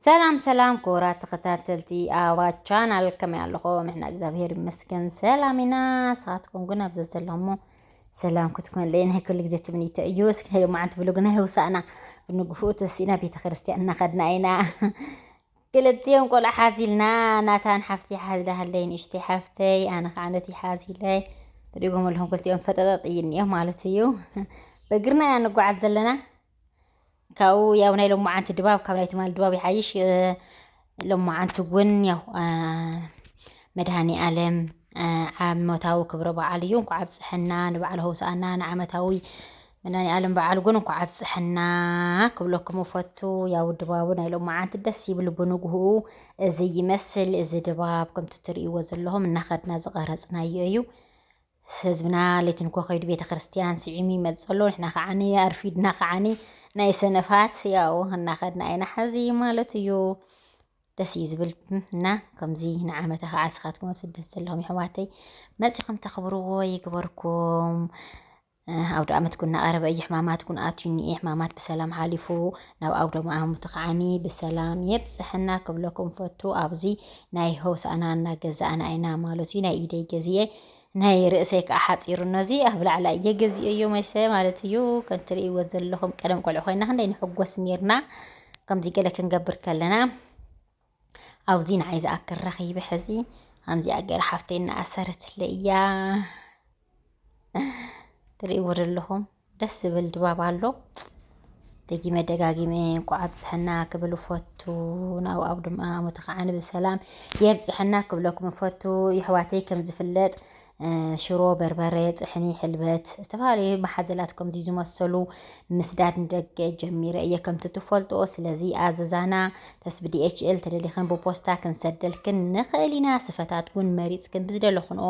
ሰላም ሰላም ክቡራት ተኸታተልቲ ኣባ ቻናል ከመይ ኣለኹም? ንሕና እግዚኣብሄር ይመስገን ሰላም ኢና። ንስኻትኩም ግን ኣብ ዘዘለሞ ሰላም ክትኮንለይ ናይ ኩሉ ግዜ ትምኒተ እዩ። እስኪ ናይ ሎማዓንቲ ብሎግ ናይ ህውሳእና ብንግፍኡ ተሲእና ቤተ ክርስቲያን እናኸድና ኢና። ክልቲኦም ቆልዓ ሓዚልና ናታን ሓፍቲ ሓዝላ ሃለይ ንእሽተይ ሓፍተይ ኣነ ከዓ ነቲ ሓዚለይ ንሪጎም ኣለኹም ክልቲኦም ፈጠጠጥ እዩ እኒኦ ማለት እዩ። በእግርና ኢና ንጓዓዝ ዘለና ካብኡ ያው ናይ ሎማዓንቲ ድባብ ካብ ናይ ትማሊ ድባብ ይሓይሽ ሎማዓንቲ እውን ያው መድሃኒ ኣለም ዓመታዊ ክብረ በዓል እዩ እንኳ ኣብፀሐና ንበዓል ሆሳእና ንዓመታዊ መድሃኒ ኣለም በዓል ግን እንኳ ኣብፀሐና ክብለኩም እፈቱ ያው ድባቡ ናይ ሎማዓንቲ ደስ ይብል ብንግህኡ እዚ ይመስል እዚ ድባብ ከምቲ ትርእይዎ ዘለኹም እናኸድና ዝቐረፅናዮ እዩ ህዝብና ለይቲ እንኮ ከይዱ ቤተክርስትያን ስዒሙ ይመጽእ ኣሎ ንሕና ከዓኒ ኣርፊድና ከዓኒ ናይ ሰነፋት ያው እናኸድና ኢና ሓዚ ማለት እዩ ደስ እዩ ዝብል እና ከምዚ ንዓመታ ከዓ ንስኻትኩም ኣብ ስደት ዘለኹም የሕዋተይ መፂኹም ተኽብርዎ ይግበርኩም ኣውደ ኣመት ኩን እናቐረበ እዩ ሕማማት ኩን ኣትዩ እኒኤ ሕማማት ብሰላም ሓሊፉ ናብ ኣውደ ኣመቱ ከዓኒ ብሰላም የብፅሐና ክብለኩም ፈቱ ኣብዚ ናይ ሆሳእና እናገዛእና ኢና ማለት እዩ ናይ ኢደይ ገዚኤ ናይ ርእሰይ ከዓ ሓፂሩ እኖዚ ኣብ ላዕላ እየ ገዚኦዮ መሰ ማለት እዩ ከም ትርእይዎ ዘለኹም ቀደም ቆልዑ ኮይና ክንደይ ንሕጎስ ነርና ከምዚ ገለ ክንገብር ከለና ኣብዚ ንዓይ ዝኣክል ረኺቢ ሕዚ ከምዚኣ ገይራ ሓፍተይ እናኣሰረትለ እያ ትርእይዎ ዘለኹም ደስ ዝብል ድባብ ኣሎ ደጊመ ደጋጊመ እንኳዕ ኣብፀሐና ክብል እፈቱ ናብ ኣብ ድማ ዓመቱ ከዓ ብሰላም የብፅሐና ክብለኩም እፈቱ የሕዋተይ ከም ዝፍለጥ ሽሮ በርበረ ጥሕኒ ሕልበት ዝተፈላለዩ መሓዘላት ከምዚ ዝመሰሉ ምስዳድ ንደገ ጀሚረ እየ ከምቲ ትፈልጦ ስለዚ ኣዘዛና ተስ ብዲኤችኤል ተደሊኽን ብፖስታ ክንሰደልክን ንኽእል ኢና ስፈታትኩን መሪፅክን ብዝደለኹንኦ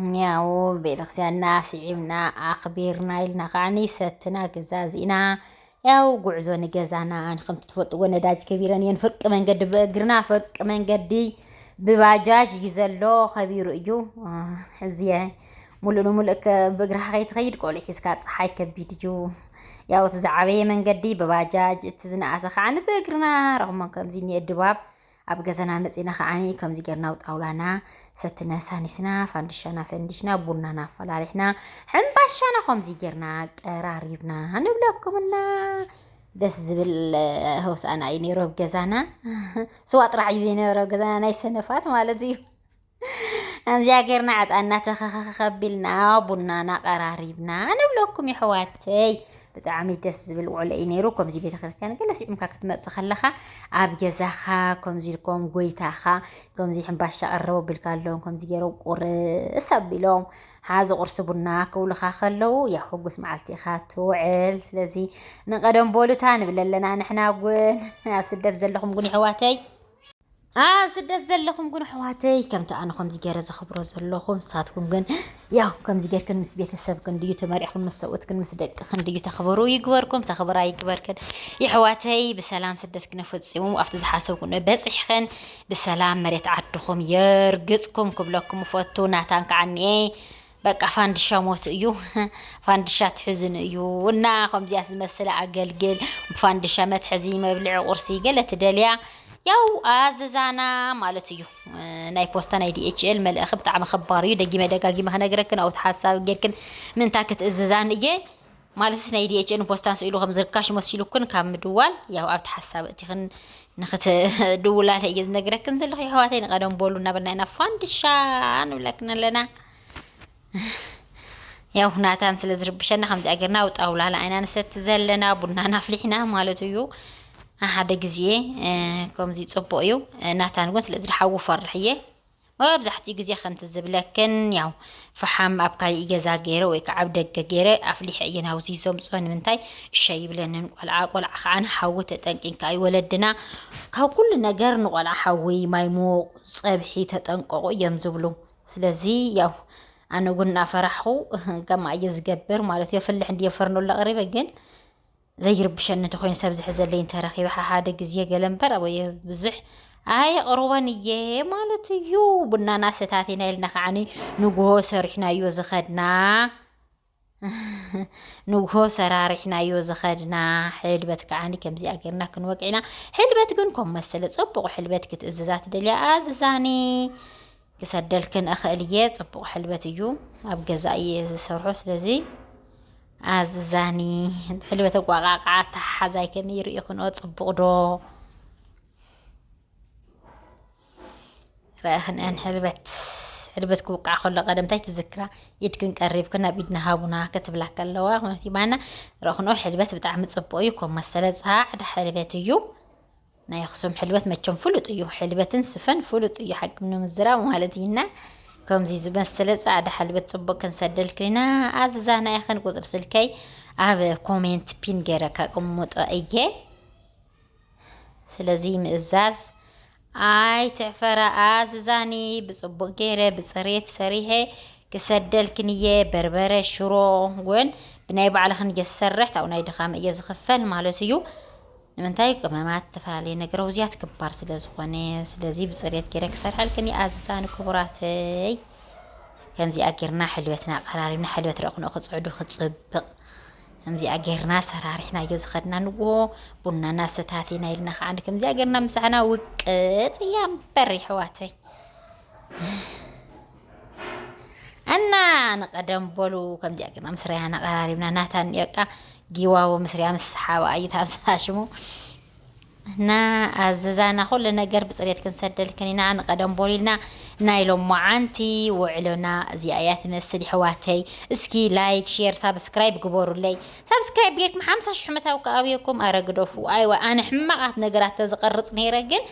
እኛው ቤተክርስቲያንና ስዒብና ኣኽቢርና ኢልና ከዓኒ ሰትና ገዛዚእና ያው ጉዕዞ ንገዛና ከምቲ ትፈልጥዎ ነዳጅ ከቢረን እየን ፍርቂ መንገዲ ብእግርና ፍርቂ መንገዲ ብባጃጅ እዩ ዘሎ ከቢሩ እዩ እዚየ ሙሉእ ንሙሉእ እከ ብእግርኻ ከይትኸይድ ቆልዑ ሒዝካ ፀሓይ ከቢድ እዩ ያው እቲ ዝዓበየ መንገዲ ብባጃጅ እቲ ዝነኣሰ ከዓ ብእግርና ረኽሞ ከምዚ እኒኤ ድባብ ኣብ ገዛና መፂና ከዓኒ ከምዚ ጌርና ኣብ ጣውላና ሰትና ሳኒስና ፋንድሻና ፈንዲሽና ቡናና ኣፈላሊሕና ሕምባሻና ከምዚ ጌርና ቀራሪብና ንብለኩምና ደስ ዝብል ሆሳእና እዩ ነይሩ ኣብ ገዛና ስዋ ጥራሕ እዩ ዘይነበረ ኣብ ገዛና ናይ ሰነፋት ማለት እዩ ኣዚኣ ጌርና ዕጣና ተኸኸኸ ቢልና ቡናና ቀራሪብና ንብለኩም የሕዋተይ ብጣዕሚ ደስ ዝብል ውዕሎ እዩ ነይሩ ከምዚ ቤተ ክርስቲያን ገለ ስዒምካ ክትመፅእ ከለኻ ኣብ ገዛኻ ከምዚ ኢልኮም ጎይታኻ ከምዚ ሕምባሻ ቀረቡ ኣቢልካ ኣለዎም ከምዚ ገይሮም ቁርስ ኣቢሎም ሓዚ ቁርሲ ቡና ክብሉኻ ከለዉ ያው ሕጉስ መዓልቲ ኢኻ ትውዕል ስለዚ ንቀደም ቦሉታ ንብለ ኣለና ንሕና እውን ኣብ ስደት ዘለኹም ግን የሕዋተይ ኣብ ስደት ዘለኹም ግን ኣሕዋተይ ከምቲ ኣነ ከምዚ ገይረ ዘኽብሮ ዘለኹም ንሳትኩም ግን ያው ከምዚ ጌርክን ምስ ቤተሰብክን ድዩ ተመሪዕኹን ምስ ሰብኡትክን ምስ ደቅኽን ድዩ ተኽብሩ ይግበርኩም ተኽብራ ይግበርክን የሕዋተይ ብሰላም ስደት ክነፈፂሙ ኣብቲ ዝሓሰብኩ በፂሕኽን ብሰላም መሬት ዓድኹም የርግፅኩም ክብለኩም እፈቱ ናታን ከዓ እኒኤ በቃ ፋንድሻ ሞት እዩ ፋንድሻ ትሕዝኑ እዩ እና ከምዚያስ ዝመስለ ኣገልግል ፋንድሻ መትሐዚ መብልዒ ቁርሲ ገለ ትደልያ ያው ኣዘዛና ማለት እዩ ናይ ፖስታ ናይ ዲኤችኤል መልእኺ ብጣዕሚ ከባር እዩ ደጊመ ደጋጊመ ክነግረክን ኣብቲ ሓሳብ ጌርክን ምንታ ክትእዝዛን እየ ማለትስ ናይ ዲኤችኤልን ፖስታን ስኢሉ ከም ዝርካሽ መሲሉክን ካብ ምድዋል ያው ኣብቲ ሓሳብ እቲኽን ንክትድውላለ እየ ዝነግረክን ዘለኹ የሕዋተይ ንቀደም በሉ እናበልና ኢና ፋንድሻ ንብለክን ኣለና ያው ናታን ስለ ዝርብሸና ከምዚ ኣገርና ኣብ ጣውላ ንዓይና ንሰቲ ዘለና ቡናና ኣፍሊሕና ማለት እዩ ሓደ ግዜ ከምዚ ፅቡቅ እዩ ናታን እውን ስለዚ ድሓዊ ፈርሕ እየ መብዛሕትኡ ግዜ ከምቲ ዝብለክን ያው ፈሓም ኣብ ካሊእ ገዛ ገይረ ወይ ከዓ ኣብ ደገ ገይረ ኣፍሊሐ እየ ናብዚ ዘምፅኦ ንምንታይ እሸ ይብለንን ቆልዓ ቆልዓ ከዓ ንሓዊ ተጠንቂንካ እዩ ወለድና ካብ ኩሉ ነገር ንቆልዓ ሓዊ ማይ ምዉቕ ፀብሒ ተጠንቀቑ እዮም ዝብሉ ስለዚ ያው ኣነ እውን እናፈራሕኹ ከማ እየ ዝገብር ማለት እዮ ፍልሕ እንዲ ፈርኖ ለቕሪበ ግን ዘይርብሸኒ እንተኾይኑ ሰብ ዝሕዘለይ እንተረኺበ ሓሓደ ግዜ ገለ እምበር ኣበየ ብዙሕ ኣየቕርቦን እየ ማለት እዩ። ቡናና ሰታቲና ኢልና ከዓኒ ንጉሆ ሰሪሕናዮ ዝኸድና ንጉሆ ሰራሪሕናዮ ዝኸድና ሕልበት ከዓኒ ከምዚኣ ጌርና ክንወቅዕ ኢና። ሕልበት ግን ከም መሰለ ጽቡቕ ሕልበት ክትእዝዛ ትደልያ ኣዝዛኒ ክሰደልክን እኽእል እየ። ጽቡቕ ሕልበት እዩ፣ ኣብ ገዛ እየ ዝሰርሖ። ስለዚ ኣዝዛኒ ሕልበት ኣቋቃቃ ኣተሓሓዛይ ከመይ ርኢኹንኦ ጽቡቕ ዶ ረእኽንአን ሕልበት ሕልበት ክውቃዕ ከሎ ቀደም እንታይ ትዝክራ ኢድክን ቀሪብክ ናብ ኢድና ሃቡና ክትብላ ከለዋ ኮነት ይባና ረእኽንኦ ሕልበት ብጣዕሚ ጽቡቕ እዩ ኮም መሰለ ጻዕዳ ሕልበት እዩ ናይ ኣክሱም ሕልበት መቸም ፍሉጥ እዩ ሕልበትን ስፈን ፍሉጥ እዩ ሓቂ ንምዝራብ ማለት እዩና ከምዚ ዝመሰለ ጻዕዳ ሕልበት ጽቡቅ ክንሰደልክና ኣዝዛና ኢኽን ቁጽሪ ስልከይ ኣብ ኮሜንት ፒን ገረ ከቅምጦ እየ ስለዚ ምእዛዝ ኣይ ትዕፈራ ኣዝዛኒ ብጽቡቅ ገይረ ብጽሬት ሰሪሐ ክሰደልክን እየ በርበረ ሽሮ እውን ብናይ ባዕልኽን እየ ዝሰርሕ ታብኡ ናይ ድኻም እየ ዝኽፈል ማለት እዩ ንምንታይ ቅመማት እተፈላለየ ነገር ኣውዚያት ክባር ስለ ዝኾነ ስለዚ ብጽሬት ጌረ ክሰርሐልክን ይኣዝዝ ኣነ ክቡራተይ ከምዚኣ ጌርና ሕልበትና ቀራሪብና ሕልበት ረቕንኦ ክጽዕዱ ክጽብቕ ከምዚኣ ጌርና ሰራሪሕናዮ ዝኸድና ንዎ ቡናና ሰታቴና ኢልና ከዓ ከምዚኣ ጌርና ምሳሕና ውቅጥ እያ እምበር ይሕዋተይ እና ንቀደም በሉ ከምዚኣ ግና ምስ ርያን ኣቀራሪብና ናታን በቃ ጊዋዎ ምስ ርያ ምስ ሓባ እዩ ታብዝታ ሽሙ እና ኣዘዛና ኩሉ ነገር ብፅሬት ክንሰደልክን ኢና ንቀደም በሉ ኢልና ናይ ሎማዓንቲ ውዕሎና እዚኣ እያ ትመስል ይሕዋተይ እስኪ ላይክ ሼር ሳብስክራይብ ግበሩለይ ሳብስክራይብ ጌርኩም ሓምሳ ሽሕ ምታብ ከ ኣብየኩም ኣረ ግደፉ ኣይዋ ኣነ ሕማቃት ነገራት ተዝቀርጽ ነይረ ግን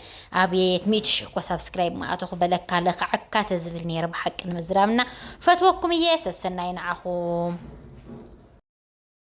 ኣብየት ሚእቲ ሽሕ እኮ ሳብስክራይብ ምኣተኹ በለካ ለክዓካ ተዝብል ነይረ ብሓቂ ንምዝራብና ፈትወኩም እየ ሰሰናይ ንዓኹም